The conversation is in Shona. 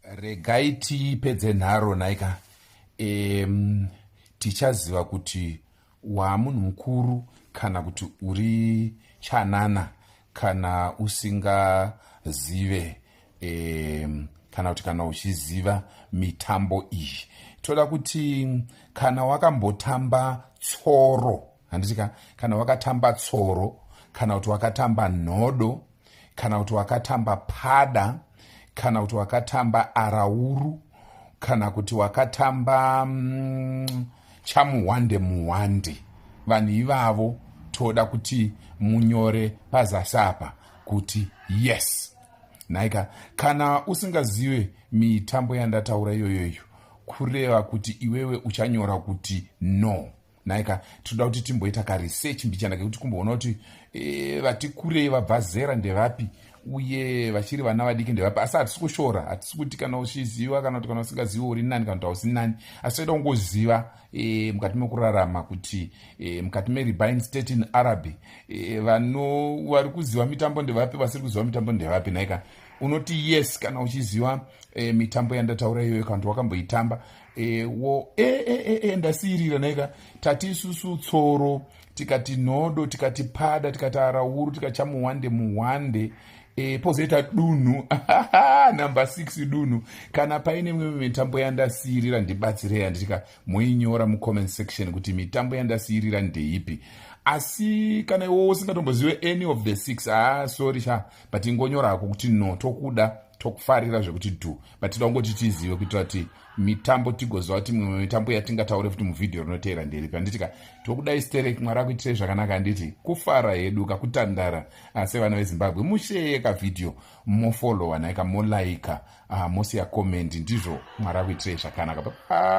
regai tipedze nharo nhaika um, tichaziva kuti waamunhu mukuru kana kuti uri chanana kana usingazive um, kana kuti kana uchiziva mitambo iyi toda kuti kana wakambotamba tsoro handiti ka kana wakatamba tsoro kana kuti wakatamba nhodo kana kuti wakatamba pada kana kuti wakatamba arauru kana kuti wakatamba mm, chamuhwande muhwande vanhu ivavo toda kuti munyore pazasi apa kuti yes nhaika kana usingazive mitambo yandataura iyoyoyo kureva kuti iwewe uchanyora kuti no nhaika tinoda kuti timboita karesearch mbichana kekuti kumboona kuti e, vati kurei vabva zera ndevapi uye vachiri vana vadiki ndevapi asi hatisi kushora hatisi kuti kana uchiziva kana kuti kana usingazivi uri nani kana kuti hausi nani asi toita kungoziva e, mukati mekurarama kuti e, mukati meribine state in araby e, vano vari kuziva mitambo ndevapi vasiri kuziva mitambo ndevapi nhaika unoti yes kana uchiziva e, mitambo yandataura iyoyo kana kuti wakamboitamba ewo e, e, e, e, ndasiirira neka tati isusu tsoro tikati nhodo tikati pada tikati arauru tikatya muhwande muhwande e, pozoita dunhu number 6 dunhu kana paine mimwe mitambo yandasiirira ndibatsirei handitika moinyora mucomment section kuti mitambo yandasiirira ndeipi asi kana iwowo usingatombozive any of the six haa sorry sha but ingonyorako kuti no tokuda tokufarira zvekuti dhu but tinoda kungoti tizive kuitira kuti mitambo tigoziva kuti mimwe mitambo yatingataure futi muvhidhiyo rinoteera nderipi handiti ka tokudai sterek mwari akuitirei zvakanaka handiti kufara hedu kakutandara ah, sevana vezimbabwe musheye kavhidhiyo mofolowa nhaika molaika ah, mosiya komendi ndizvo mwari akuitirei zvakanaka